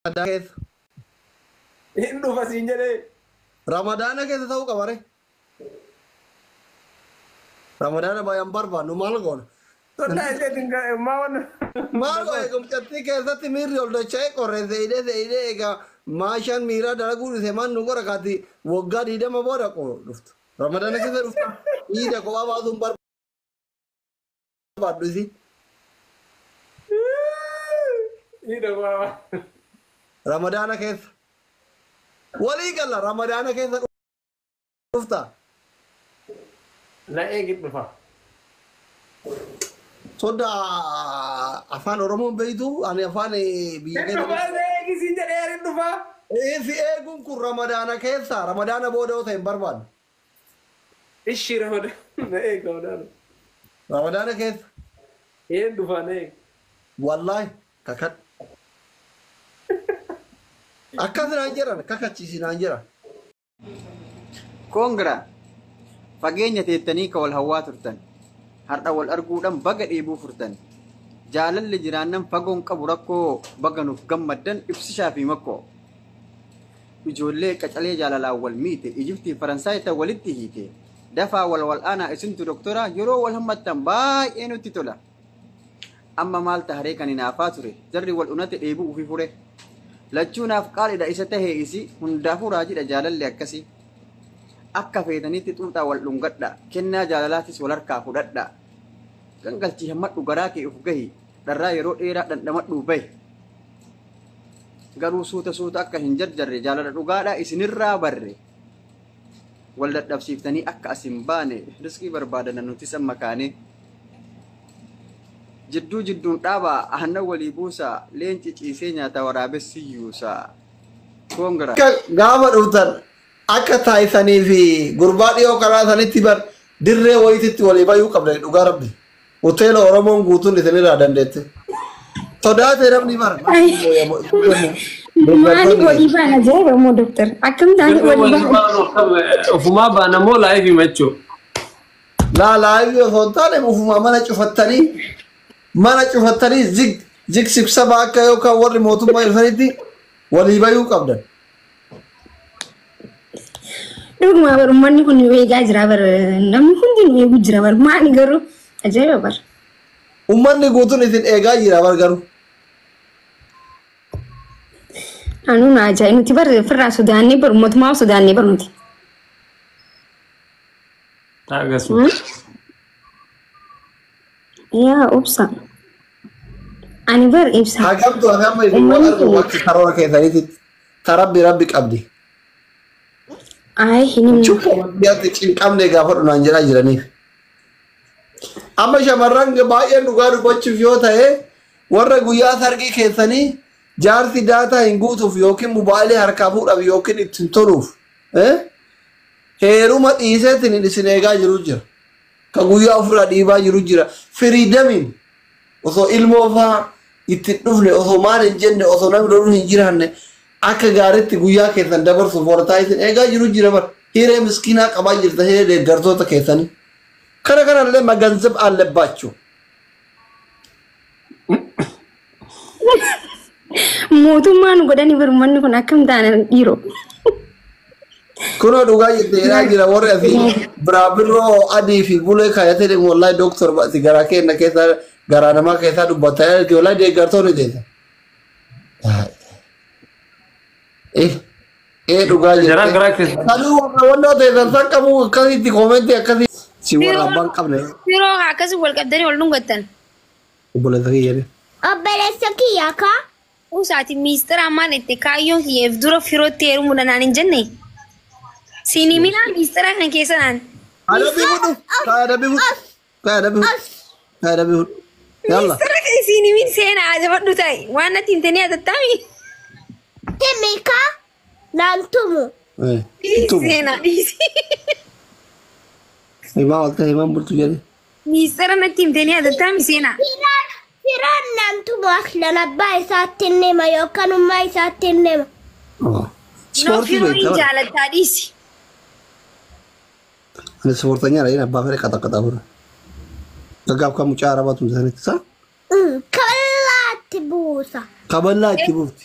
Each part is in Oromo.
Ramadaana keessa. Hin dhufa siin jedhee. Ramadaana keessa ta'uu qaba ree. Ramadaana baay'ee hin barbaannu maal goona? Sunnaa isheetiin ga- maa wanna. Maal goona eegumsattii keessatti miirri ol dacha'ee qorree seeyidee seeyidee egaa maashaan miiraa dalaguu dhise maal nu qora kaati waggaa diidama booda qo dhuftu. Ramadaana keessa dhuftu dhiida kophaa baasuun barbaannu. qabaadhu isi. Ni dhabaama. Ramadaana keessa. Walii galla Ramadaana keessa dhufta. Na eegi dhufa. Sodda afaan Oromoo hin beektu ani afaan eh, biyya Hin keessa. dhufaa na eegi siin jedhee ani hin dhufaa. Eh, Si eeguun kun Ramadaana keessa Ramadaana booda yoo ta'e hin barbaadu. Ishi ramada na eeg ramadaana. Ramadaana keessa. Een dhufaa na eeg. Wallahi kakadhu. Akkas naan jedhan kakachiisi naan jedhan. Congra! Fageenya teettanii ka wal hawwaa turtan. Har'a wal arguudhaan baga dheebuu furtan. Jaalalli jiraannan fagoon qabu rakkoo baga nuuf gammaddan ibsishaa fi makkoo. Ijoollee qacalee jaalalaan wal miite Ijiptii fi Faransaay tan walitti hiite. Dafaa wal wal'aanaa isintu doktoraa yeroo wal hammattan baay'ee nutti tola. Amma maal taharee kan hinaafaa ture jarri wal unate dheebuu ufi fure. Lachuu naaf qaaliidha isa tahee isi hundaafuu raajidha jaalalli akkasii. Akka feetanitti xuuxaa wal dhungadha kennaa jaalalaatis wal harkaa fudhadha. Gangalchii hammadhu garaa kee uf gahi dharraa yeroo dheeraa dhandhamadhuu bahi. garuu suuta suuta akka hin jarjarre jaalala dhugaadha isinirraa barre wal dadhabsiiftanii akka as hin baane riskii barbaadana nutis amma kaane jidduu jidduun dhaabaa aannan walii buusaa leenci ciisee nyaata waraabessi yuusaa koongiraa akka gaafa dhuftan akka taayisanii fi gurbaa dhiyoo karaa sanitti bar dirree wayititti walii bayuu qabdan dhugaa rabbi Hoteela Oromoon guutuun isinirraa dandeette. Sodaatee namni bara. Maali walii baana jee Oromoo doktar. Akkam taane walii baana. Ofumaa baana moo laayivii machuu? Laa laayivii osoo hin taane ofumaa mana cufattanii mana cufattanii zig zig sibsaba akka yookaan warri mootummaa dhufanitti walii bayuu qabdan. Dhuguma bar ummanni kun nu eegaa jira bar namni hundi nu eegu jira bar maali garuu ajaa'iba bar. Ummanni guutuun isin eegaa jira bar garuu. Anuu na ajaa'iba nuti bar firraa sodaannee bar ummatumaa sodaannee bar nuti. Akkasuma. Yaa obsa. Ani bar ibsa. Haa qabdu haa qabdu isin waan argu waan karoora keessanitti tarabbi rabbi qabdi. Ayi hin himne. Cubbuu biyyaatti cinqamne gaafadhu naan jedhaa jiraniif. Amma shamarran baay'een dhugaa dubbachuuf yoo ta'e warra guyyaa sargii keessanii jaarsi daataa hin guutuuf yookiin mobaayilii harkaa fuudhaaf yookiin ittiin toluuf heeruma dhiisee isin eegaa jiru jira. Ka guyyaa ofirraa dhiibaa jiru jira. Firiidamiin osoo ilmoo faa itti hin dhufne, osoo maal hin jenne, osoo namni loluu hin jiraanne akka gaariitti guyyaa keessan dabarsuuf warra isin eegaa jiru jira bar. Hiree miskiinaa qabaa jirta hiree deeggartoota keessanii. Kana kanallee maganzab allebaachuu. Mootummaa nu godhanii bar ummanni kun akkam taanan dhiiroo. Kunoo dhugaa jette jedhaa jira warri asii biraa birroo adii fi bulee kaayatee deemu wallahi dooktor ba'ati garaa keenya keessaa garaa namaa keessaa dubbataa jirti wallahi deeggartoonni deessa. Eh eh dhugaa jette. Jaraa garaa keessa. Kanuu warra wannoo teessan san qabu akkasitti koomentii akkasii si warra abbaan qabne. Yeroo akkasii wal qabdanii wal dhungattan. Obboleessa kiyya be. Obboleessa kiyya ka. Uus ati miistira ammaan itti kaayyoon kiyya if dura firootti heerumuudha naan hin jenne. Siin himinaa miistira kan keessa naan. Adabbii fudhu. Ka adabbii fudhu. Ka adabbii fudhu. Ka adabbii fudhu. Yalla. Miistira kan siin himin seena ajabadhu ta'i. Waan natti hin tenee atattaami. Himi ka. Naan tumu. Eh, hin tumu. Seenaa dhiisi. Himaa ol ta'e himaan bultu jedhe. Miistara natti himtee ni hatattaami seenaa. Firaan firaan naan tumu akhilan abbaa isaatti hin hima yookaan ummaa isaatti hin hima. Oh. Noo Ispoortii firoo hin beektaa? jaalattaa dhiisi. Ani ispoortanya dha. Inni abbaa fedhe qaxaqaxaa bira. Gaggaaf kan mucaa arabaa tumte sanitti isaa Kaballaatti buusa. kaballaa itti buufti.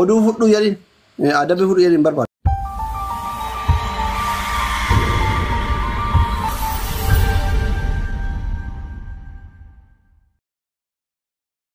Oduu fudhuu jedhin adabi fudhu jedhin barbaada.